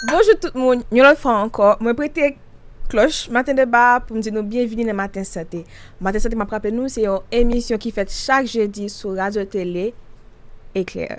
Bonjou tout moun, yon lòt fwa ankò, mwen prete klòch maten deba a pou m di nou byenvini nan Maten Sante. Maten Sante m ap raple nou se yon emisyon ki fèt chak jedi sou Radyo Tele Eklè.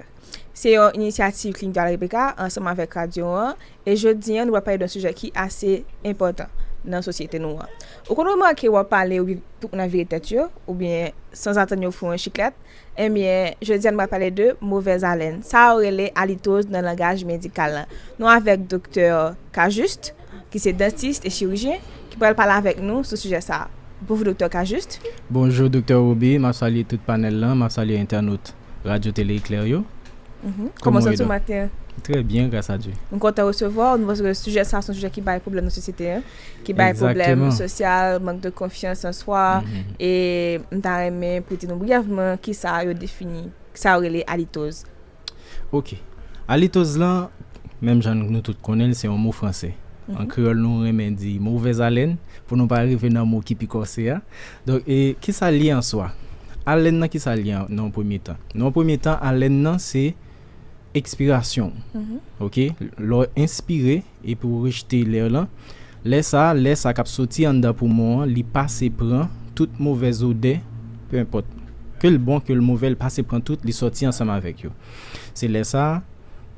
Se yon inisyativ Klinik Dwale Rebeka ansanm avèk radyo an e jodi an nou pral pale d'un sijè ki ase enpòtan nan sosyete nou an. Ou konn remake w ap pale ou gen tout moun ap vire tèt yo oubyen sanzatann yo fè w yon chiklèt. Enbyen, jodi a nou pral pale de movèz alèn. Sa yo rele alitoz nan langaj medikal la. Nou avèk Doktè Cajuste, ki se dantist e chirijyen, ki pral pale avèk nou sou sijè sa a. Bonjou Doktè Cajuste. Bonjou Doktè Rubi, m ap salye tout panèl lan, m ap salye entènot Radyo Tele Eklè yo. Kòman w santi w maten an? Trè byen, gras a Dye. M kontan resevwa w. Nou panse ke sijè sa a se yon sijè ki bay pwoblèm nan sosyete an. ki bay pwoblèm sosyal, mank de konfyans an swa, e m ta renmen pou di nou briyèvman ki sa yo defini, ki sa yo rele alitoz. Ok, alitoz lan, menm jan nou tout konnen l, se yon mo franse. An kreyòl nou renmen di movèzalèn, pou nou pa rive nan mo ki pi kòse a. Donk, e ki sa l ye an swa? Alèn nan ki sa l ye nan yon premye tan? Nan yon premye tan, alèn nan se ekspirasyon ou. Ok, lè w enspire. Epi ou rejte lè lan. Lè sa a, lè sa k ap soti anndan poumon an, li pase pran tout movèz odè, pe enpòt, ke l bon, ke l movè, li pase pran tout, li soti ansanm avèk yo. Se lè sa a,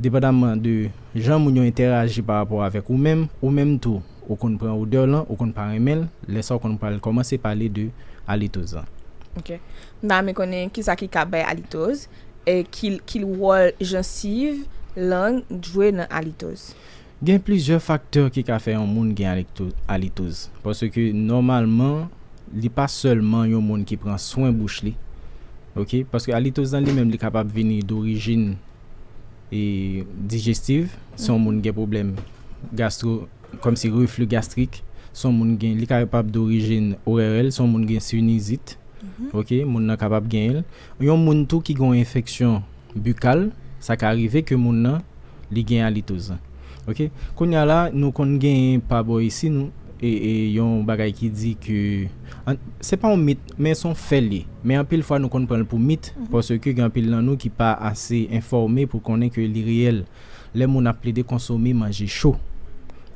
depandamman de jan moun yo entèraji pa rapò avèk ou menm, ou menm tou, ou konn pran odè lan, ou konn pa renmen l, lè sa ou konn pral kòmanse pale de alitoz lan. Ok. M ta renmen konnen kisa ki ka bay alitoz, Ki wòl jansiv, lang, jwe nan alitoz? Gen plizyè faktè ki ka fè yon moun gen alitoz. Paske nòmalman li pa sèlman yon moun ki pran swen bouch li. Paske alitoz lan li menm li kapab vini dorijin dijestiv. Si yon moun gen pwoblèm gastro, kòmsi refli gastrik. Li kapab dorijin ORL, si yon moun gen sinizit, moun nan kapab genyen li. Yon moun tou ki gen yon enfeksyon bikal, sa ka rive ke moun nan li gen alitoz. Ok. Kounye a la, nou konn genyen pa bò isi nou, e yon bagay ki di ke, se pa yon mit, men se yon fè li ye. Men anpil fwa nou konn pran l pou mit, paske gen anpil nan nou ki pa ase enfòme pou konnen ke li reyèl. Lè moun ap plede konsome manje cho.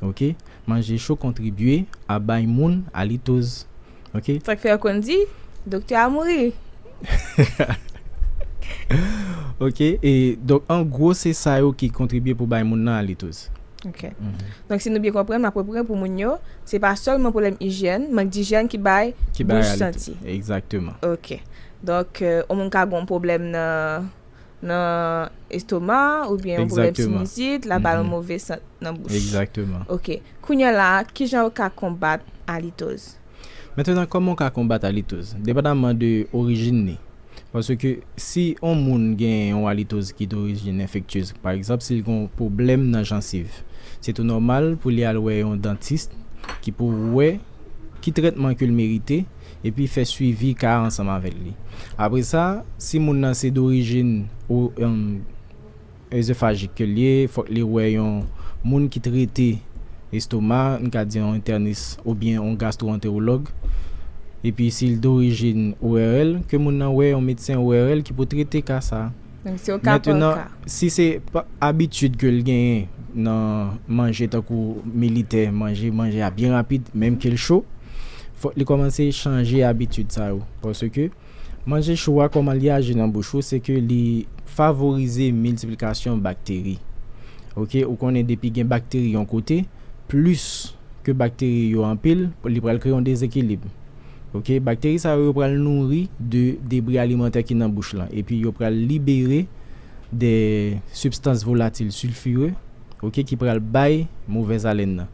Ok. Manje cho kontribye a bay moun alitoz. Ok. Sak fè yo konn di doktè a mouri. Ok e donk an gwo se sa yo ki kontribye pou bay moun nan alitris. Ok. Donk si nou byen konprann m ap reprann pou moun yo, se pa sèlman pwoblèm ijyèn, mank dijyèn ki bay bouch santi. Ki bay alitris. Egzakteman. Ok. Donk on moun ka gon pwoblèm nan. nan estoma oubyen yon pwoblèm sinizit, la ba l yon move sant nan bouch. Egzakteman. Ok. Kounyè la a, ki jan ou ka konbat alitoz? Mentenan, kòman ou ka konbat alitoz? Depandaman de orijin li. Paske si yon moun gen yon alitoz ki dorijin enfektyez, pa egzanp, si l gen yon pwoblèm nan jansiv, se tou nòmal pou li al wè yon dantis ki pou wè ki trètman ke l merite, epi fè swivi ka a ansanm avèk li. Apre sa, si moun nan se dorijin o Oezofajik ke l ye, fòk li wè yon moun ki trete estoma, n ka di yon entènis oubyen yon gastwoantewològ. Epi si l dorijin ORL, ke moun nan wè yon medsen ORL ki pou trete ka sa a. Mètenan, si se abitid ke l genyen nan manje tankou militè, manje, manje a byen rapid, menm ke l cho, fòk li kòmanse chanje abitid sa yo. Paske, manje cho a, kòman li aji nan bouch ou, se ke li favorize miltiplikasyon bakteri. Ok, ou konnen depi gen bakteri yon kote, plis ke bakteri yo anpil, li pral kreye yon dezekilib. Ok, bakteri sa yo yo pral nouri de debri alimantè ki nan bouch lan epi yo pral libere de sibstans volatil silfire ok ki pral bay movèz alèn nan.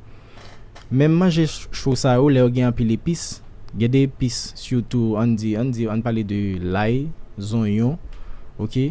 Menm manje cho sa yo lè yo gen anpil epis, gen de epis sitou ann di ann di ann pale de lay, zonyon ok.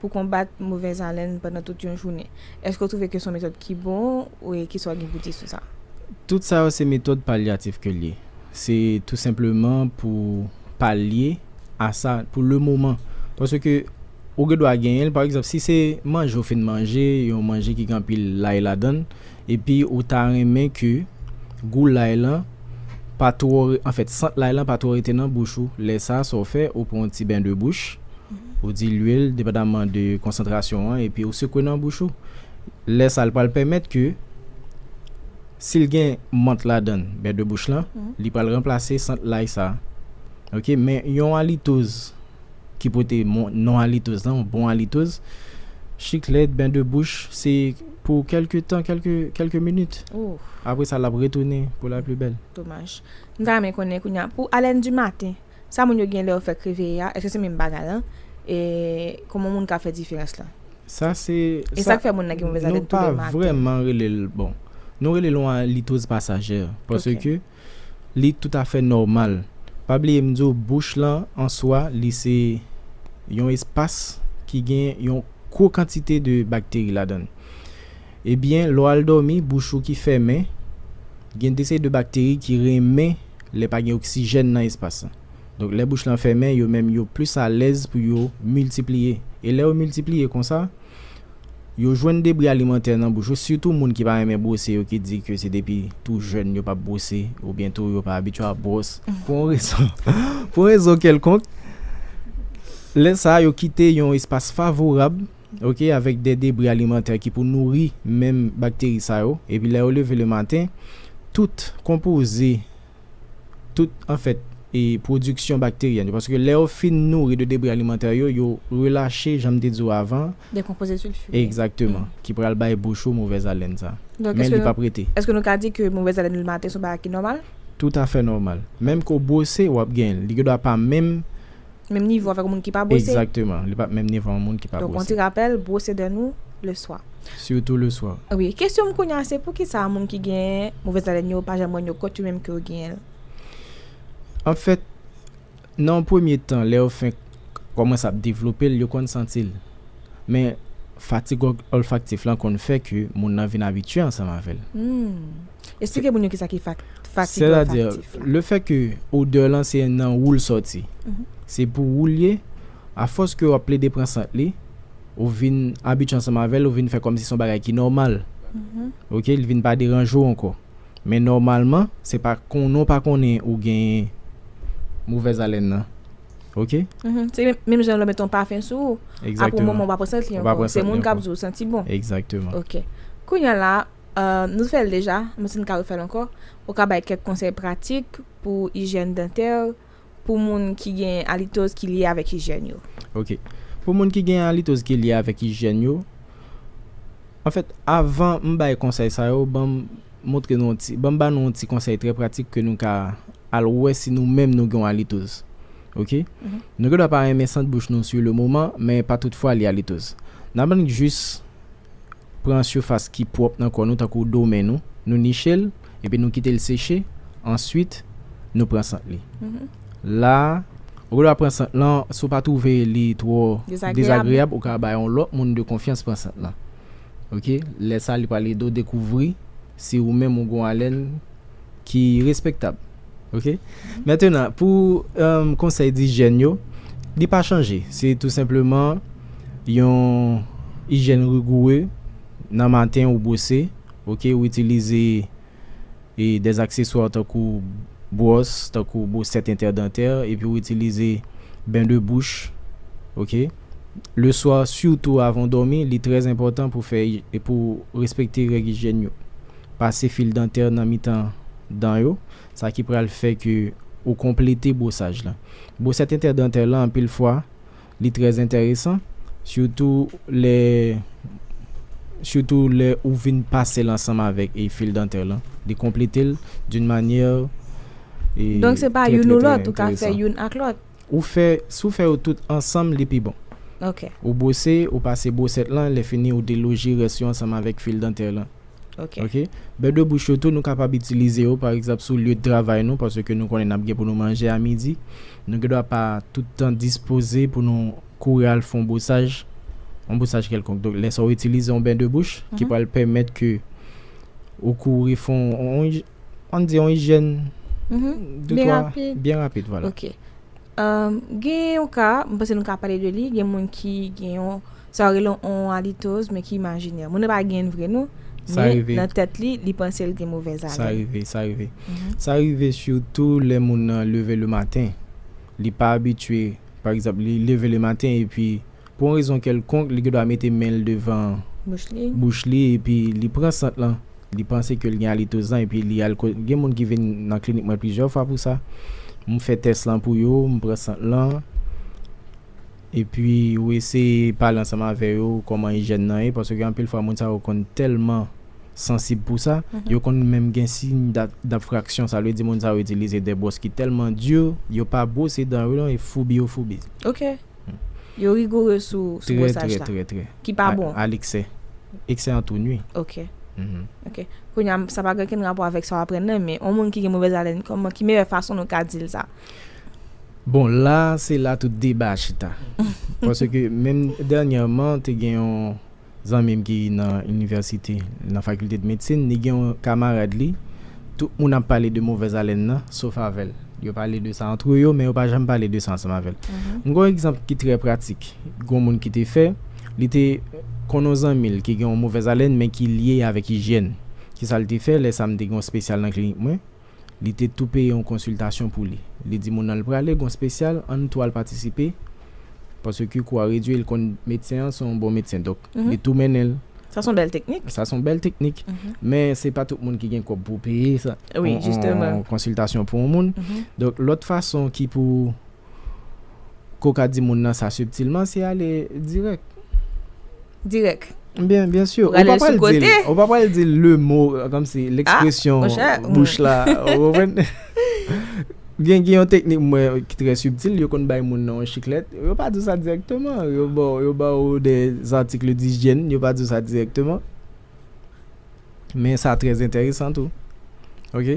pou konbat movèz alèn pandan tout yon jounen. Èske w twouve ke se yon metòd ki bon e kisa w gen pou di sou sa? Tout sa yo se metòd palyatif ke l ye. Se tou senpleman pou palye a sa pou le moman. Paske ou gen dwa genyen l, pa egzanp si se manje ou fin manje, yon manje ki gen anpil lay ladan l, epi ou ta renmen ke gou lay lan pa twò, anfèt sant lay lan pa twò rete nan bouch ou, lè sa sa w fè, ou pran yon ti ben de bouch. Ou di lwil depandaman de konsantrasyon an epi ou sekwe nan bouch ou. Lè sa li pral pèmèt ke si l gen mant ladan l, bè de bouch lan, li pral ranplase sant lay sa. Ok men yon alitoz ki pote non alitoz lan, yon bon alitoz, chiklèt, bè de bouch se pou kèlke tan, kèlke minit. Apre sa l ap retounen pou la pli bèl. Domaj. M ta renmen konnen kounye a pou alèn di maten. Sa moun yo gen lè yo fèk reveye a, èske se menm bagay lan? E kòman moun ka fè diferans lan? Sa se, E sa, sa k fè moun nan gen movèz alèn nou tou pa lè maten? vrèman rele l, bon, nou rele l yon alitoz pasajè, Ok. paske li toutafè nòmal. Pa bliye m di w bouch lan an swa li se yon espas ki gen yon gwo kantite de bakteri ladan l. Ebyen lè w al dòmi bouch ou ki fèmen gen de seri de bakteri ki renmen lè pa gen oksijèn nan espas lan. Donk lè bouch lan fèmen yo menm yo plis alèz pou yo miltipliye. E lè yo miltipliye konsa yo jwenn debri alimantè nan bouch yo sitou moun ki pa renmen bwose yo ki di ke se depi tou jèn yo pap bwose oubyen tou yo pa abitye ap bwòs pou yon rezon pou yon rezon kèlkonk lè sa yo kite yon espas favorab ok, avèk de debri alimantè ki pou nouri menm bakteri sa yo, epi lè yo leve le maten, tout konpoze, tout anfèt e pwodiksyon bakteryèn yo, paske lè yo fin nouri de debri alimantè yo, yo relache, jan m te di w avan, De konpoze silfire. Egzakteman, ki pral bay bouch ou movèz alèn sa. Men li p ap rete. Donk, èske nou ka di ke movèz alèn le maten se yon bagay ki nòmal? Toutafè nòmal. Menm ke w bwose, w ap gen l. Li gen dwa pa menm. Menm nivo avèk yon moun ki pa bwose. Exactement. Li pap menm nivo yon moun ki pa bwose. Donc on ti rappel, bwose dè nou le swa. Surtout le swa. Wi. Kesyon m kounye a se poukisa moun ki gen movèz alèn yo pa janm rann yo kont yo menm ke yo genyen l? En fait, nan yon premye tan lè yo fenk kòmanse ap devlope l yo konn santi l. Men fatig olfaktif lan konn fè ke moun nan vin abitye ansanm avè l. Humm. Esplike moun yo kisa ki fatig olfaktif la. Le fè ke odè lan se nan wou l sòti. Se pou wou l ye, a fòs ke w ap plede pran sant li, ou vin abitye ansanm avè l, ou vin fè kòmsi se yon bagay ki nòmal. Ok, li vin pa deranje w ankò. Men nòmalman, se pa konnen w pa konnen ou gen movèz alèn nan. Ok? Se menm jan lè w mete yon pafen sou wou, apre yon moman ou pa pran sant li ankò. Se moun k ap di w ou santi bon. Egzakteman. Ok. Kounye a la. Nou te fè l deja, men si n ka refè l ankò, ou ka bay kèk konsèy pratik pou ijyèn dantè pou moun ki gen alitoz ki lye avèk ijyèn yo. Ok. Pou moun ki gen alitoz ki lye avèk ijyèn yo, anfèt, avan m bay konsèy sa yo, ban m montre nou yon ti, ban m ba nou yon ti konsèy trè pratik ke nou ka al wè si nou menm nou gen yon alitoz. Ok. Nou gendwa pa renmen sant bouch nou sou lemoman, men pa tout fwa li alitoz. N aprann jis pran sifas ki pwòp nan kò nou tankou do men nou, nou niche l epi nou kite l seche, answit nou pran sant li la ou gen dwa pran sant lan si w pa twouve li twò dezagreyab ou ka bay yon lòt moun de konfyans pran sant lan ok, lè sa li pral ede w dekouvri si ou menm ou gen yon alèn ki respektab. Ok Maintenant pou konsèy dijyèn yo Li pa chanje Se tou senpleman Yon ijyèn rigoure Nan maten ou bwose Ok ou itilize E dè akseswa tankou Bwòs tankou bwosèt entèdantè Epi ou itilize Ben de bouch Ok Le swa sitou avan w dòmi Li trè enpòtan pou fè Pou respekte règ ijyèn yo. Pase fil dantè nan mitan dan yo, sa ki pral fè ke ou konplete bwosaj la. Bwosèt entèdantè la anpil fwa li trè entèresan, sitou lè sitou lè ou vin pase l ansanm avèk fil dantè la, li konplete l d'une manière trè trè trè entèresan. Donk se pa youn ou lòt, ou ka fè youn ak lòt? Ou fè, si w fè yo tout ansanm li pi bon. Ok. Ou bwose, ou pase bwosèt lan, lèfini ou deloje rès yo ansanm avèk fil dantè lan. Ok. Ok. Bè de bouch yo tou nou kapab itilize yo pa egzanp sou lye travay nou paske nou konnen n ap gen pou nou manje a midi. Nou gen dwa pa tout tan dispoze pou nou kouri al fè yon bwosaj, yon bwosaj kèlkonk. Donk lè sa ou itilize yon bè de bouch ki pral pèmèt ke ou kouri fè yon, an n di yon ijyèn de twa, byen rapid vwala. Ok. Gen yon ka, m panse nou ka pale de li, gen moun ki gen yon, sa yo rele yon alitoz men ki imajinè. Moun nan pa gen vre non, men nan tèt li, li panse l gen movèz alèn. Sa rive, sa rive. Sa rive sitou lè moun nan leve le maten, li pa abitye, pa egzanp, li leve le maten epi. Pou yon rezon kèlkonk, li gendwa mete men l devan bouch li epi li pran sant lan. Li panse ke l gen alitozan epi li al kot, gen moun ki vin nan klinik mwen plizyè fwa pou sa. M fè tès lan pou yo, m pran sant lan, epi ou eseye pale ansanm avè yo kòman ijyèn nan ye, paske gen anpil fwa moun sa yo konn tèlman sansib pou sa, yo konn menm gen siy dafraksyon, sa vle di moun sa yo itilize dè bwòs ki tèlman di, yo pa bwose dan yo non, e foubi yo foubi. Yo rigoureux sou sou Trè bwosaj trè la. trè trè. Ki pa A bon. a leksè. Eksè an tou nui. Ok. Ok. Kounye a, sa pa gen okenn rapò avèk sa w aprann nan, men yon moun ki gen movèz alèn, kòman, ki meyè fason nou ka di l sa? Bon, la a, se la tout deba a chita. Paske menm dènyèman te gen yon. zanmi m ki nan inivèsite, nan fakilte de medsin, li gen yon kamarad li, tout moun ap pale de movèz alèn nan, sof avè l. Yo pale de sa antre yo, men yo pa janm pale de sa ansanm avè l. M gen yon egzanp ki trè pratik, gen yon moun ki te fè, li te konn yon zanmi l ki gen yon movèz alèn men ki lye avèk ijyèn. Ki sa l te fè? Lè sa m te gen yon spesyal nan klinik mwen. Li te tou peye yon konsiltasyon pou li. Li di moun nan l prale gon spesyal an nou tou al patisipe paske kou a redwi l konn medsen an se yon bon medsen donk li tou mennen l. Sa son bèl teknik. Sa son bèl teknik men se pa tout moun ki gen kòb pou peye yon konsiltasyon pou yon moun donk lòt fason ki pou Ke w ka di moun nan sa subtilement, se ale dirèk. Dirèk. Byen, byen sûr. Ou pa pral di l, ou pa pral di l le mot, kòm si, l'expression bouch la, ou konprann? Gen, gen yon teknik mwen wè ki trè subtil, yo konn bay moun nan yon chiklèt, yo pa di w sa dirèkteman, yo ba w, yo ba w des articles d'hygiène, yo pa di w sa dirèkteman. Men sa trè entèresan tou. Ok?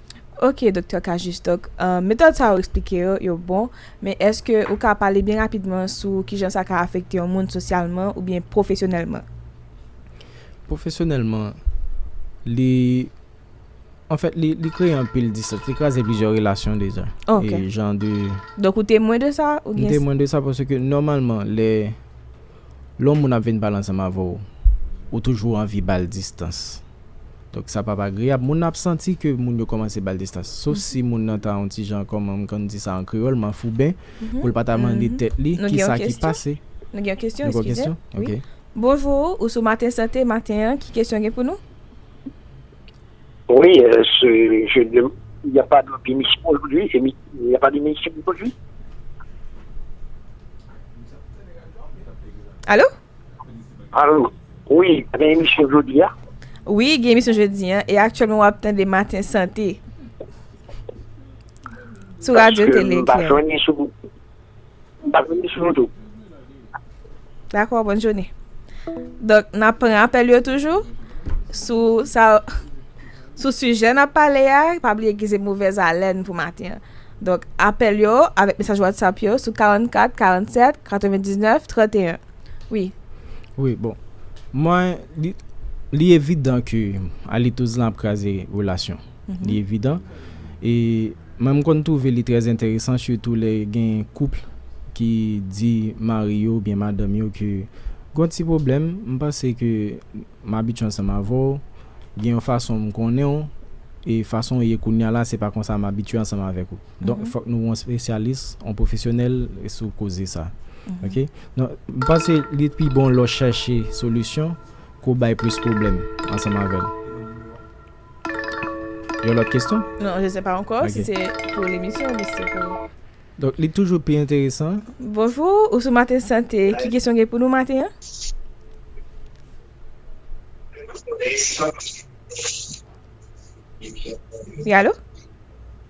Ok Doktè Cajuste, donk metòd sa ou eksplike yo, yo bon, men èske ou ka pale byen rapidman sou kijan sa ka afekte yon moun sosyalman oubyen pwofesyonèlman? Pwofesyonèlman, li, anfèt li kreye anpil distans, li kraze plizyè relasyon deja. Ok. Jan de. Donk ou temwen de sa? Ou gen. M temwen de sa paske nòmalman lè. Lè yon moun ap vin pale ansanm avè w, ou toujou anvi ba l distans. Donk sa p ap agreyab. Moun nan ap santi ke moun yo kòmanse ba l distans. Sof si moun nan ta yon ti jan, kòman m konn di sa an kreyòl, manfouben, pou l pa ta mande tèt li ki sa ki pase. Nou gen yon kesyon. Nou gen yon kesyon? Eskize. Ok. Bonjou, ou sou Maten Sante maten an. Ki kesyon gen pou nou? Wi se je de ya pa de minisyon ojodi e mi ya pa de minisyon ojodi. Alo? Alo wi gen emisyon jodi ya? Wi gen emisyon jodi ya e aktyèlman wap tande maten sante sou radyo tele eklè. M pa konn misye yo tou. Dakò, bòn jounen. Donk, n ap pran apèl yo toujou sou sa sou sijè n ap pale a. Pa bliye gen se movèz alèn pou maten an. Donk, apèl yo avèk mesaj whatsapp yo sou 44 47 99 31. Wi. Wi, bon. Mwen, li li evidan ke Alito Zlan ap kraze relasyon. Li evidan. E. Mwen m konn twouve li trè enteresan sitou lè gen couple ki di mari yo oubyen madanm yo ke gon ti pwoblèm m panse ke m abitye ansanm avè w gen yon fason m konnen w e fason w ye kounya la se pa konsa m abitye ansanm avèk ou donk fòk nou wè yon spesyalis yon pwofesyonèl sou koze sa ok donk m panse li pi bon lè w chache solisyon ke w bay plis pwoblèm ansanm avè l. Yon lòt kesyon? Non, je sais pas ankò si se pou lemisyon oubyen si se pou. Donk li toujou pi enteresan. Bonjou, ou sou maten sante. Ki kesyon gen pou nou maten an? Wi, alo?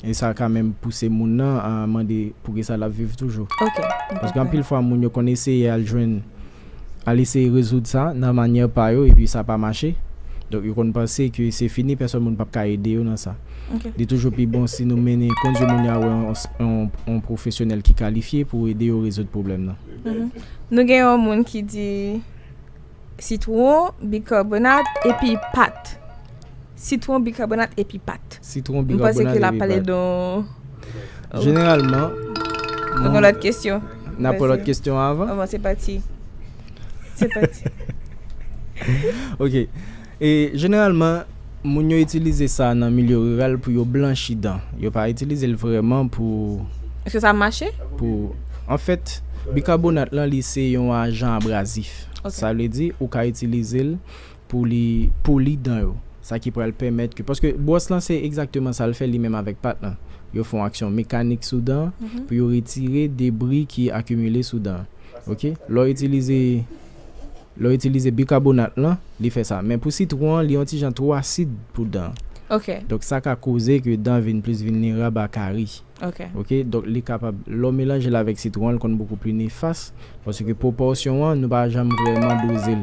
E sa ka menm pouse moun nan mande poukisa l ap viv toujou. Paske anpil fwa moun yo konn eseye al jwenn, al eseye rezoud sa nan manyè pa yo epi sa pa mache. Donk yo konn panse ke se fini pèsòn moun pap ka ede yo nan sa. Li toujou pi bon si nou mennen, kondui moun yo al wè yon pwofesyonèl ki kalifye pou ede yo rezoud pwoblèm nan. Nou gen yon moun ki di sitwon, bikarbonat epi pat. Sitwon, bikabonat epi pat. Sitwon, bikabonat epi pat. Jeneralman. Nan pran lòt kesyon. Nan pran lòt kesyon avan. Avan se pati. Se pati. Ok. E jeneralman. Moun yo itilize sa nan milyo riral pou yo blanchi dan. Yo pa itilize l vreman pou. Eske sa mache? Pou. An fèt, bikabonat lan li se yon ajan abrazif. Sa vle di ou ka itilize l pou li poli dan yo, sa ki pral pèmèt ke, paske bwòs lan se egzakteman sa l fè li menm avèk pat lan, yo fè yon aksyon mekanik sou dan an pou yo retire debri ki akimile sou dan an, ok. Lè w itilize, lè w itilize bikabonat lan, li fè sa. Men pou sitwon an, li yon ti jan twò asid pou dan an. Ok. Donk sa ka koze ke dan vin plis vilnerab a kari. Ok. Ok, donk li kapab, lè w melanje l avèk sitwon an, l konn bokou pli nefas, paske pwopòsyon an, nou pa janm vrèman doze l.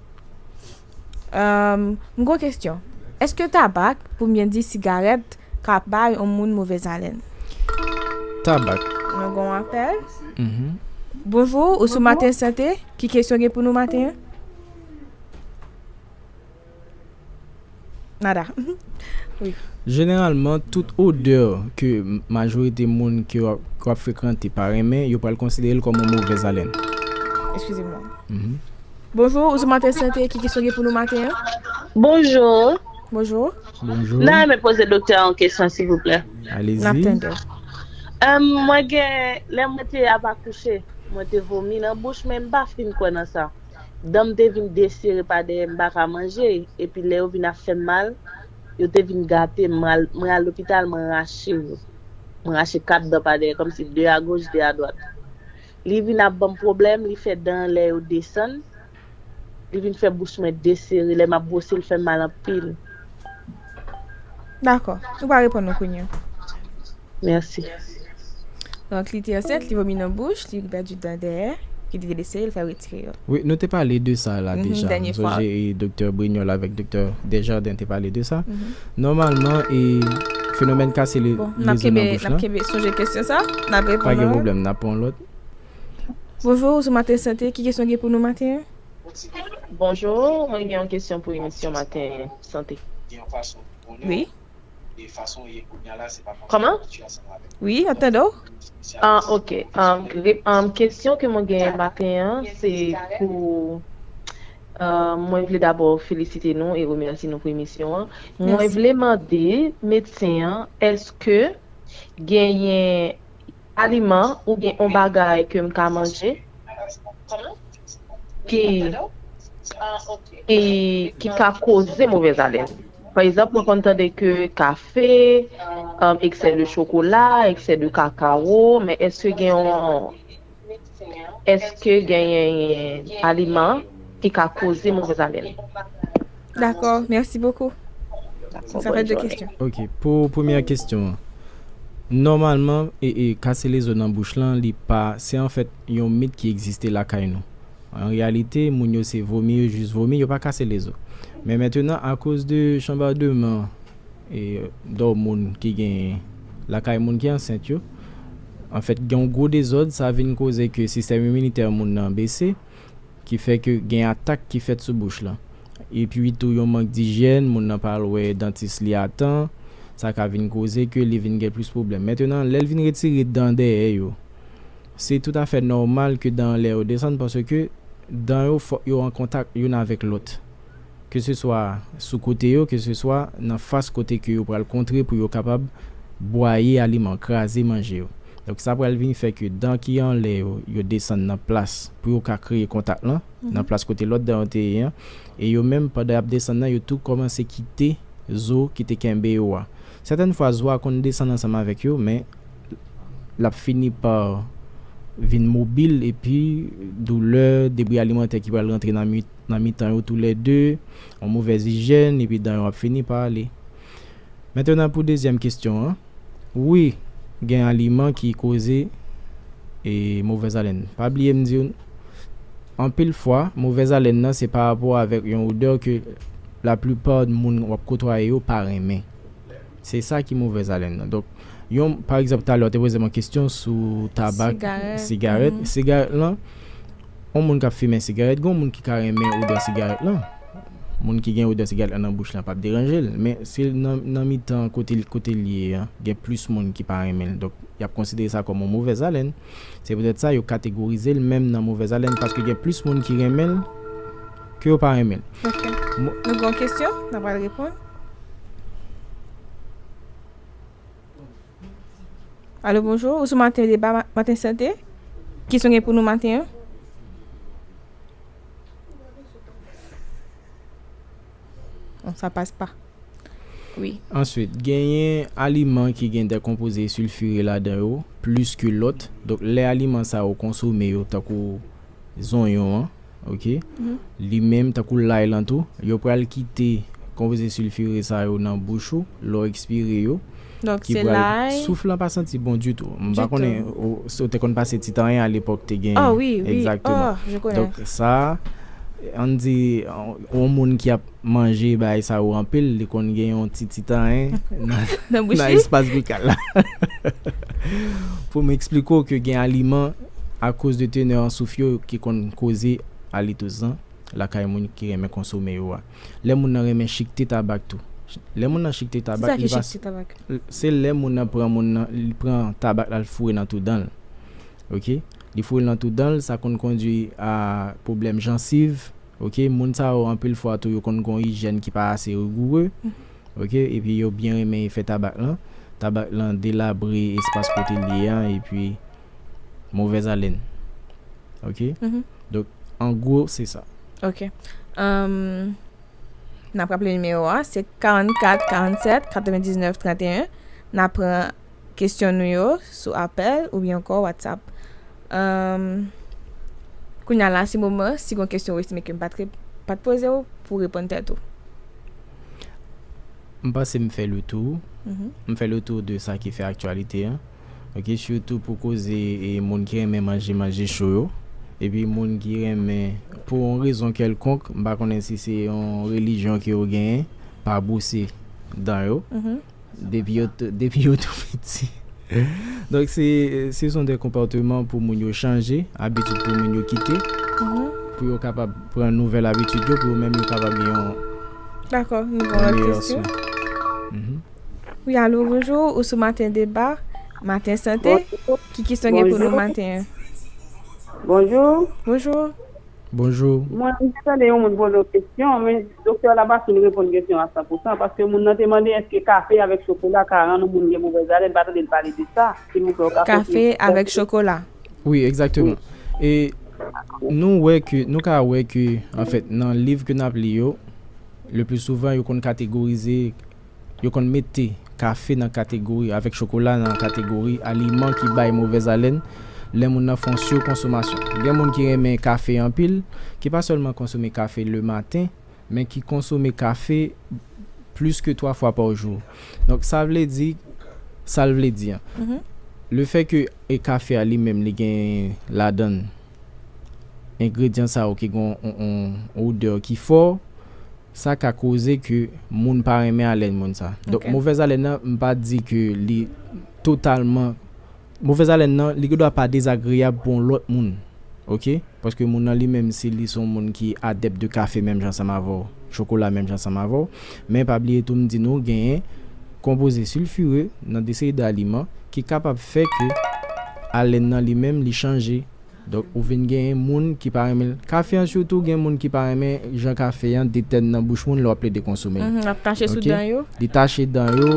M gwo kesyon, Eske tabak, poum byen di sigarèt, ka bay on moun movèz alèn? Tabak. Nou gon apèl. Bonjou, ou sou Maten Sante, ki kesyon gen pou nou maten an? Nada. Jeneralman, tout odè ke majorite moun ke w ap frekante pa renmen, yo pral konsidere l kòm yon movèz alèn. Eskize mwen. Bonjou, ou sou Maten Sante, ki kesyon gen pou nou maten an? Bonjou. Bonjou. Bonjou. Mwen ta renmen poze doktè a yon kesyon silvouplè. Alezi. N ap tande w. Mwen gen, lè mwen te ap akouche, mwen te vomi nan bouch men m pa fin kwè nan sa. Dan m te vin desere pa dèyè m pa ka manje, epi lè yo vin ap fè m mal, yo te vin gate m, mwen al lopital mwen rache yo, mwen rache 4 dan pa dèyè kòmsi 2 a goch 2 a dwat. Li vin ap banm pwoblèm, li fè dan lè yo desann, li vin fè bouch mwen desere, lè m ap bwose l fè m mal anpil. Dakò, ou pa reponn mwen kounye. Mèsi. Donk li te ansent, li vomi nan bouch, li pèdi dan dèyè, ki te blese yo, li fè retire yo. Wi, nou te pale de sa la deja. M sonje Doktè Brignol avèk Doktè Desjardins te pale de sa. Nòmalman, fenomèn kase lezo nan bouch la. Bon, n ap kenbe, n ap kenbe sonje kesyon sa. N ap reponn. Pa gen pwoblèm, n ap pran yon lòt. Bonjou, ou sou Maten Sante, ki kesyon w gen pou nou maten an? Bonjou, mwen gen yon kesyon pou emisyon Maten Sante. Wi. e fason ou ye kounya la se pa fason Kòman? abitye a sanble avèk Wi, map tande w. Yon spesyalis Ah ok, yon um, pwofesyonèl rep, um, pwofesyonèl kesyon ke mwen genyen maten an se pou um, mwen vle dabò felisite nou e remèsi nou pou emisyon an. Mwen Mèsi. vle mande medsen an eske genyen aliman oubyen on bagay ke m ka manje Kòman? ki ki ka koze movèz alèn. Pa egzanp mwen konn tande ke kafe, eksè de chokola, eksè de kakawo, men èske gen yon èske genyen yon aliman ki ka koze movèz alèn? Dakò, mèsi bokou. Dakò, bòn jounen. Ok, pou premyè kesyon an, nòmalman kase lezo nan bouch lan li pa, se anfèt yon mit ki egziste lakay nou. An reyalite, moun yo se vomi yo jis vomi, yo pa kase lezo. Men mentenan akoz de chanbademan e dòmoun ki genyen lakay moun ki ansent yo, anfèt gen yon gwo dezòd, sa vin koze ke sistèm iminitè moun nan bese, ki fè ke gen atak ki fèt sou bouch lan. Epi tou yon mank dijyèn, moun nan pa al wè dantis li a tan, sa ka vin koze ke li vin gen plis pwoblèm. Mentenan lè l vin retire dan dèyè yo, Se toutafè nòmal ke dan anlè yo desann paske dan yo fòk yo an kontak youn avèk lòt. Ke se swa sou kote yo, ke se swa nan fas kote ke yo pral kontre pou yo kapab bwaye aliman, kraze manje yo. Donk sa pral vin fè ke dan ki anlè yo, yo desann nan plas pou yo ka kreye kontak lan, nan plas kote lòt dan yo te ye an. E yo menm pandan y ap desann nan, yo tou kòmanse kite zo ki te kenbe yo a. Sètèn fwa zo a konn desann ansanm avèk yo men. lap fini pa vin mobil epi doulè, debri alimantè ki pral rantre nan mitan yo tou lè de, yon movèz ijèn epi dan yo ap fini pa ale. Mentenan pou dezyèm kestyon an, wi gen aliman ki koze e movèz alèn. Pa bliye m diw anpil fwa movèz alèn nan se pa rapò avèk yon odè ke laplipa moun wap kotwaye yo pa renmen. Se sa ki movèz alèn nan. Donk, yon, pa egzanp, talè w te poze m yon kesyon sou tabak, sigarèt, sigarèt lan, yon moun k ap fimen sigarèt, gen yon moun ki ka renmen odè sigarèt lan. Moun ki gen odè sigarèt lan nan bouch lan p ap deranje l. Men, si l nan mitan kote l kote l ye an, gen plis moun ki pa renmen l. Donk, y ap konsidere sa kòm yon movèz alèn. Se poutèt sa yo kategorize l menm nan movèz alèn paske gen plis moun ki renmen l. Ke yo pa renmen l. Ok. Nou gon kesyon? N ap al reponn. Alo bonjou, ou sou maten deba maten sante. Kesyon gen pou nou maten an? Bon sa pas pa. Wi. Answit, genyen aliman ki gen de konpoze silfire ladan yo plis ke lòt. Donk lè aliman sa yo konsome yo tankou zonyon an ok li menm tankou lay lan tou yo pral kite konpoze silfire sa yo nan bouch ou lè w ekspire yo ki pral souf lan pa santi bon ditou m pa konnen si w te konn pase ti tanyen alepòk te gen egzakteman donk sa an di yon moun ki ap. Manje bagay sa yo anpil, li konn gen yon ti ti tanyen nan espas bikal la. Pou m esplike w ke gen aliman akoz de tenè an souf yo ki konn koze alitouzan lakay moun ki renmen konsome yo a. Lè moun nan renmen chikte tabak tou. Lè moun nan chikte tabak li va. Se lè moun nan pran moun nan li pran tabak la l foure nan tou dan l. Ok. Li foure l nan tou dan l sa konn kondwi a pwoblèm jansiv. ok moun sa yo anpil fwa tou yo konn gon ijyèn ki pa ase rigoure ok epi yo byen renmen efè tabak lan tabak lan delabre espas kote li ye an epi movèz alèn ok donk an gwo se sa. Ok nap raple nimewo a se 44 47 99 31 nap pran. Kesyon nou yo sou apèl oubyen ankò WhatsApp. Umm kounye a la se moman si gon kesyon ou estime ke m pat pat poze w pou w reponn tèt ou. M panse m fè le tou. M fè le tou de sa ki fè aktyalite an. Ok sitou pou koze moun ki renmen manje manje cho yo. Epi moun ki renmen pou yon rezon kèlkonk m pa konnen si se yon relijyon ke yo genyen pa bwose dan yo. Depi yo tou depi yo tou piti. Donk se se son de konpòteman pou moun yo chanje, abitid pou moun yo kite. Pou yo kapab pran nouvèl abitid yo pou yo menm yo kapab gen yon Dakò, nou pran lòt kesyon. Wi alo, bonjou, ou sou maten deba, maten sante. Ki kesyon gen pou nou maten an? Bonjou. Bonjou. Bonjou. Mwen te tande yon moun poze yon kesyon, men Doktè la pa fin reponn kesyon a san pou san, paske moun nan te mande èske kafe avèk chokola ka rann yon moun gen movèz alen, m pa tande l pale de sa, silvouplè ou ka konfime. Kafe avèk chokola? Wi, egzakteman. E nou wè ke, nou ka wè ke anfèt nan liv ke n ap li yo, le pli souvan yo konn kategorize. Yo konn mete kafe nan kategori avèk chokola nan kategori aliman ki bay movèz alèn lè moun nan fè yon sikonsomasyon. Gen moun ki renmen kafe anpil, ki pa sèlman konsome kafe lematen, men ki konsome kafe plis ke twa fwa pa jou. Donk, sa vle di, sa l vle di an, lefè ke kafe a li menm li gen ladan l engredyan sa yo ki gen yon odè ki fò, Sa ka koze ke moun pa renmen alèn moun sa. Donk movèz alèn nan m pa di ke li totalman movèz alèn nan li gendwa pa dezagreyab pou yon lòt moun ok paske moun nan li menm si li son moun ki adèp de kafe menm jan ansanm avè w chokola menm jan ansanm avè w men pa bliye tou m di nou genyen konpoze silfire nan de seri de aliman ki kapab fè ke alèn nan li menm li chanje. Donk ou vin genyen moun ki pa renmen l. Kafe an sitou gen moun ki pa renmen jan kafe an detèn nan bouch moun lè w ap plede konsome l. Lap tache sou dan yo. Li tache dan yo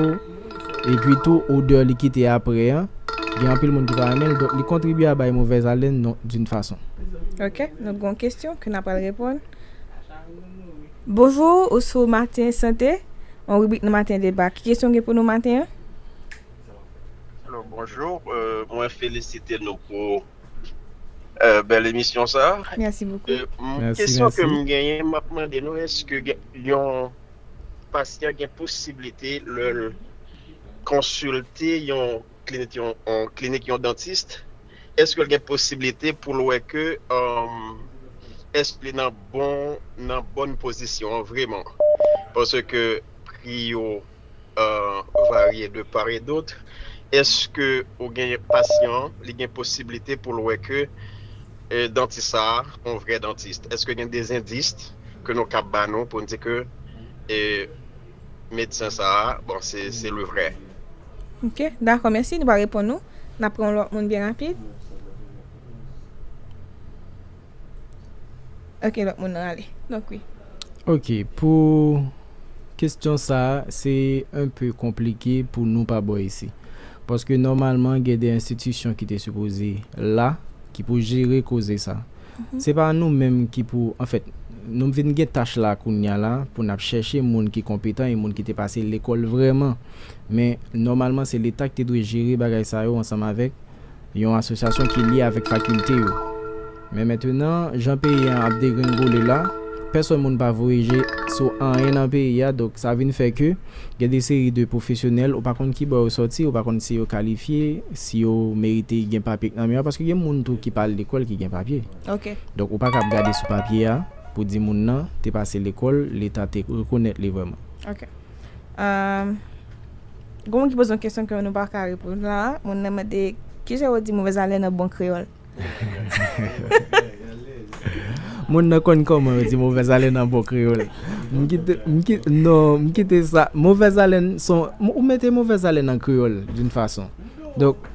epi tou odè li kite aprè an gen anpil moun ki pa renmen l donk li kontribye a bay movèz alèn non d'une façon. Ok nou gon kesyon ke na pral reponn. Bonjour ou sou matin santé yon ribrik nan matin deba ki kesyon ou gen pou nou matin an? Alo bonjour mwen felisite nou pou bèl emisyon sa kesyon ke m genyen m ap mande nou eske yon pasyan gen posiblite lè l konsilte yon klinik yon dantist eske l gen posiblite pou l wè ke eske li nan bon nan bòn pozisyon vreman paske pri yo varye de part et d'autre, eske ou gen pasyan an li gen posiblite pou l wè ke dantis sa a on vrè dantist? Eske gen des indices ke nou kab ba nou pou n di ke medsen sa a bon se le vrè? Ok, dakò mèsi, li pa reponn ou. N ap pran yon lòt moun byen rapid. Ok lòt moun nan ale. Donk wi. Ok pou Kesyon sa se enpe konplike pou nou pa bò isi. Paske nòmalman gen de enstitisyon ki te sipoze la ki pou jere koze sa. Se pa nou menm ki pou anfèt nou vin gen tach la kounya la pou n ap chèche moun ki konpetan e moun ki te pase lekòl vrèman. Men nòmalman se leta ki te dwe jere bagay sa yo ansanm avèk Yon asosyasyon ki lye avèk fakilte yo. Men mentenan, jan peyi an ap degrenngole la, pèsòn moun pa voye je sou anyen nan peyi a, donk sa vin fè ke gen de seri de pwofesyonèl, ou pa konn ki bò yo sòti, ou pa konn si yo kalifye, si yo merite gen papye k nan men yo, paske gen moun tou ki pa al lekòl ki gen papye. Donk ou pa kab gade sou papye a pou di moun nan te pase lekòl, leta te rekonèt li vrèman. Ahh. Gen moun ki poze yon kesyon ke nou pa ka reponn la. Moun nan mande, Kijan yo di movèz alèn an bon kreyòl? Moun nan konn kòman yo di movèz alèn an bon kreyòl. M kite, m kite, non, m kite sa. Movèz alèn son, ou mete movèz alèn an kreyòl, doun fason. Donk,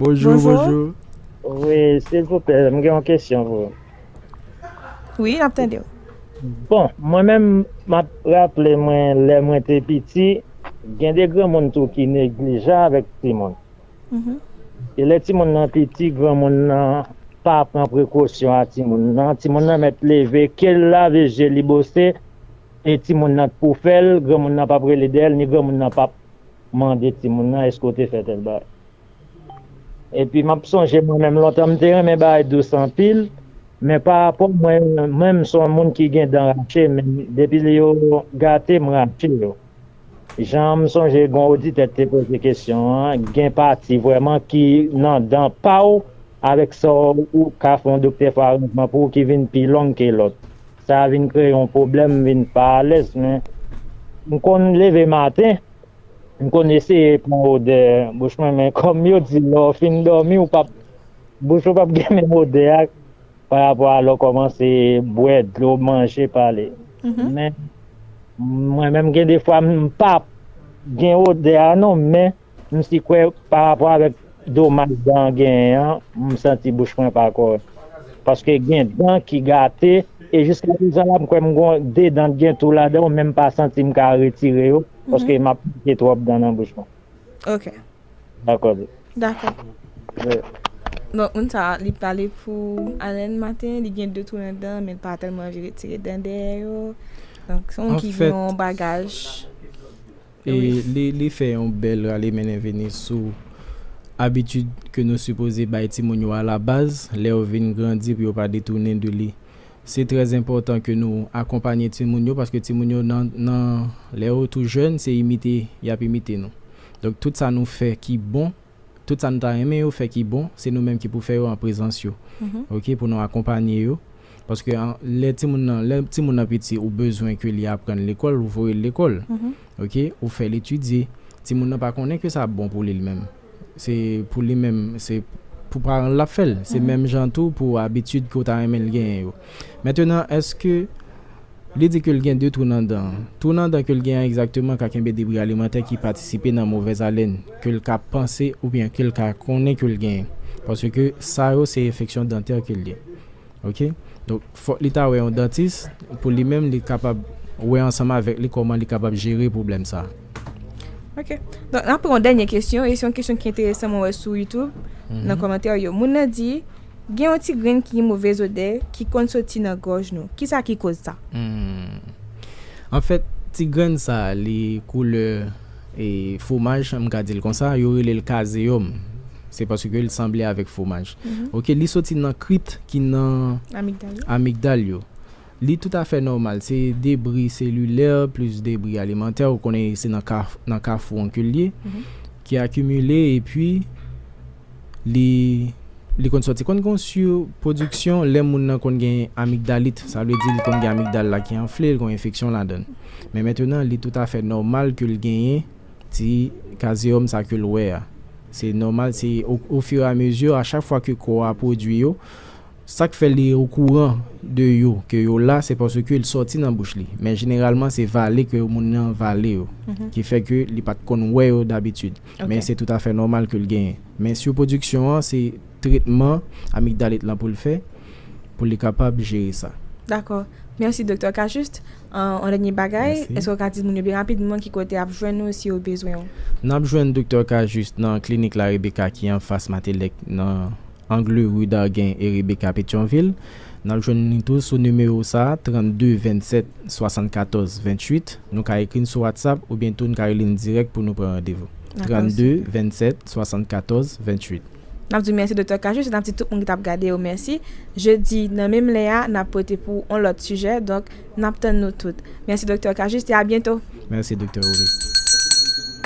Bonjou bonjou. Wi silvouplè m gen yon kesyon pou ou. Wi nap tande w. Bon mwen menm map raple mwen lè mwen te piti gen de granmoun tou ki neglijan avèk timoun. E lè timoun nan piti granmoun nan pa pran prekosyon a timoun nan, timoun nan mèt leve kel lave je li bose e timoun nan k pou fèl granmoun nan pap rele dèyèl ni granmoun nan pap Mande timoun nan eske w te fè tèl bagay. Epi m ap sonje mwen menm lontan m te renmen bagay dous anpil, men pa rapò mwen menm m son moun ki gen dan rache men depi li yo gate m rache yo. Jan m sonje gon oditè ki te poze kesyon an, gen pati vrèman ki nan dan pa w avèk sa w ka fè yon doktè fè aranjman pou w ki vin pi long ke lòt. Sa vin kreye yon pwoblèm m vin pa alèz men m konn leve maten. M konn eseye pran odè bouch mwen men kòm yo di lè w fin dòmi ou pap bouch ou pap gen menm odè a pa rapò a lè w kòmanse bwè dlo, manje, pale men mwen menm gen de fwa m pap gen odè a non men m si kwè pa rapò avèk. Domaj dan genyen an m santi bouch mwen pa kòrèk paske gen dan ki gate e jiska prezan la m kwè m gon 2 dan k gen tou ladan w men m pa santi m ka retire yo paske m ap manke twòp dan nan bouch mwen. Ok. Dakò di. Dakò. Ye. Bon moun sa a li pale pou alèn maten li gen 2 twou nan dan l men l pa tèlman anvi retire dan dèyè yo donk se yon moun ki gen yon bagaj. Li fè yon bèl rale mennen vini sou abitid ke nou sipoze bay timoun yo alabaz lè yo vin grandi pou yo pa detounen de li. Se trè enpòtan ke nou akonpanye timoun yo paske timoun yo nan lè yo tou jèn se imite y ap imite nou. Donk tout sa nou fè ki bon. tout sa nou ta renmen yo fè ki bon se nou menm ki pou fè yo an prezans yo ok pou nou akonpanye yo paske lè timoun nan lè timoun nan piti ou bezwen ke li aprann lekòl ou voye l lekòl ok ou fè l etidye timoun nan pa konnen ke sa ap bon pou li li menm se pou li menm se pou paran l l ap fè l se menm jan tou pou abitid ke w ta renmen l genyen yo. Mentenan, èske Li di ke l gen de twou nan dan an? Twou nan dan ke l gen an egzakteman ka kenbe debri alimantè ki patisipe nan movèz alèn ke l ka panse oubyen ke l ka konnen ke l genyen. Paske sa yo se enfeksyon dantè ke l ye. Ok. Donk, fòk li ta wè yon dantis pou li menm li kapab wè ansanm avèk li kòman li kapab jere pwoblèm sa a. Ok. Donk, n ap pran yon dènye kesyon e se yon kesyon ki enteresan mwen wè sou YouTube nan kòmantè yo. Moun nan di, Gen yon ti grenn ki gen movez odè ki konn soti nan gòj nou. Kisa ki koz sa? Humm. Anfèt, ti grenn sa a li koulè fwomaj, m ka di l konsa, yo rele l kazeyòm. Se paske l sanble avèk fwomaj. Ok, li soti nan krit ki nan amigdal yo. Li toutafè nòmal, se debri selilè plis debri alimantè, ou konnen se nan kafou onkil li ye, ki akimile epi li konn sòti. Konn gen yon sirpwodiksyon lè moun nan konn gen amigdalit, sa vle di li konn gen amigdal la ki anfle, li konn gen enfeksyon ladan l. Men mentenan, li toutafè nòmal ke l genyen ti kazeyòm sa ke l wè a. Se nòmal, se ofiramezi, a chak fwa ke kò a pwodui yo. Sak fè li o kouran de yo ke yo la se paske l sòti nan bouch li, men jeneralman se vale ke moun nan vale yo ki fè ke li pat konn wè yo dabitid, men se toutafè nòmal ke l genyen. Men surproduction an se tretman amigdalit lan pou l fè pou li kapab jere sa. Dakò. Mèsi Doktè Cajuste. Yon dènye bagay, èske w ka di moun yo byen rapidman ki kote y ap jwenn ou si yo bezwen w? N ap jwenn Doktè Cajuste nan klinik La Rebecca ki anfas Matélèque nan. Angle Rue Darguin et Rebecca Petion-Ville, n ap jwenn li tou sou nimewo sa, 32 27 74 28, nou ka ekri n sou whatsapp oubyen tou n ka rele n dirèk pou nou pran randevou, 32 27 74 28. N ap di w mèsi Doktè Cajuste e n ap di tout moun ki t ap gade yo mèsi. Jedi nan menm lè a, n ap pote pou ou on lòt sijè, donk n ap tann nou tout. Mèsi Doktè Cajuste e a byento! Mèsi Doktè Romy.